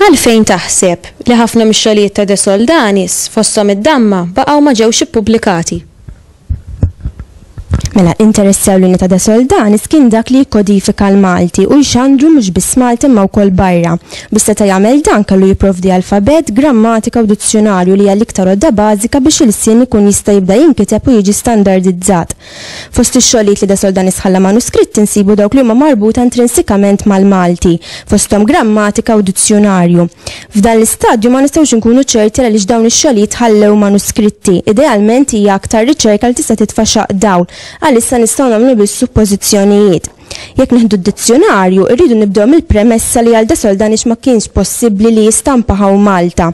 Għalfejn taħseb li ħafna mix-xogħlijiet ta' De Soldanis, fosthom id-damma, baqgħu ma ġewx ippubblikati? Mela, interess ewlieni ta' da Soldanis kien dak li jikkodifika l-Malti u jxandru mhux biss Malta imma wkoll barra. Biex seta' jagħmel dan kellu jipprovdi alfabett, grammatika u dizzjunarju li hija l-iktar għodda bażika biex ilsien ikun jista' jibda jinkiteb u jiġi standardizzat. Fost ix-xogħlijiet li da Soldanis ħalla manuskritti nsibu dawk li huma marbuta intrinsikament mal-Malti, fosthom grammatika u dizzjunarju. F'dan l-istadju ma nistgħux inkunu ċerti għaliex dawn ix-xogħlijiet ħallew manuskritti. Idealment hija aktar riċerka li tista' titfa' xaqq dawl. Għalissa nistgħu nagħmlu biss suppożizzjonijiet. Jekk nieħdu d-dizzjunarju, irridu nibdew mill-premessa li għal De Soldanix ma kienx possibbli li jistampa hawn Malta.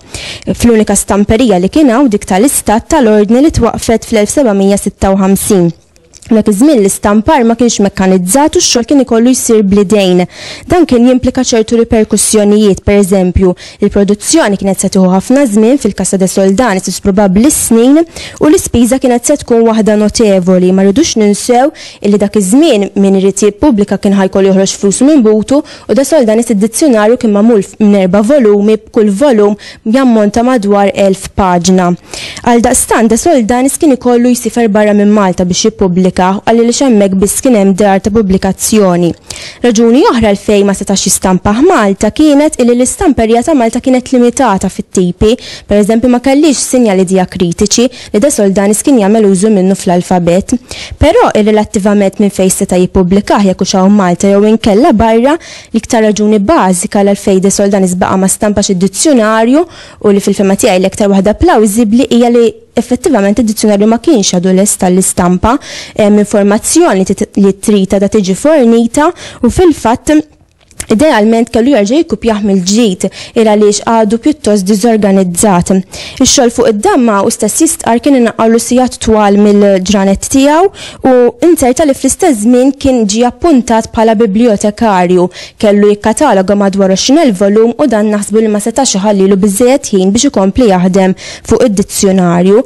Fl-unika stamperija li kien hawn, dik tal-Istat tal-Ordni li twaqqfet fl-1756. Dak iż-żmien l-istampar ma kienx mekkanizzat u x-xogħol kien ikollu jsir bl-idejn. Dan kien jimplika ċertu riperkussjonijiet, pereżempju, il-produzzjoni kienet se tieħu ħafna żmien, fil-Casa de Soldanis probabbli s-snin, u l-ispiża kienet se tkun waħda notevoli. Ma rridux ninsew illi dak iż-żmien min irid jippubblika kien ħa jkollu joħroġ flusu minn butu U De Soldanis id-dizzjunarju kien magħmul minn erba' volumi b'kull volum jammonta madwar elf paġna. Għaldaqstant De Soldanis kien ikollu jsifer barra minn Malta biex jippubblika u għaliex hemmhekk biss kien hemm dar ta' pubblikazzjoni. Raġuni oħra għalfejn ma setax jistampah Malta kienet illi l-istamperija ta' Malta kienet limitata fit-tipi, pereżempju ma kellhiex sinjali dijakritiċi, li De Soldanis kien jagħmel użu minnu fl-alfabet, però irrelattivament minn fejn seta' jippubblikah jekk hux hawn Malta jew inkella barra, l-iktar raġuni bażika l-għalfejn De Soldanis baqa' ma stampax id-dizzjunarju u li fil-fehma tiegħi l-iktar waħda plawżibbli hija li effettivament id-dizzjunarju ma kienx għadu lest għall-istampa, hemm informazzjoni li trid għadha tiġi fornita u fil-fatt, Idealment kellu jerġa' jikkupjah mill-ġdid, il għaliex għadu pjuttost diżorganizzat. Ix-xogħol fuq id-damma u stess jistqarr kien inaqqgħulu sigħat twal mill-ġranet tiegħu u inzerta li fl-istess żmien kien ġie appuntat bħala biblijotekarju, kellu jikkataloga madwar 20 elf volum u dan naħsbu li ma setax iħallilu biżżejjed ħin biex ikompli jaħdem fuq id-dizzjunarju.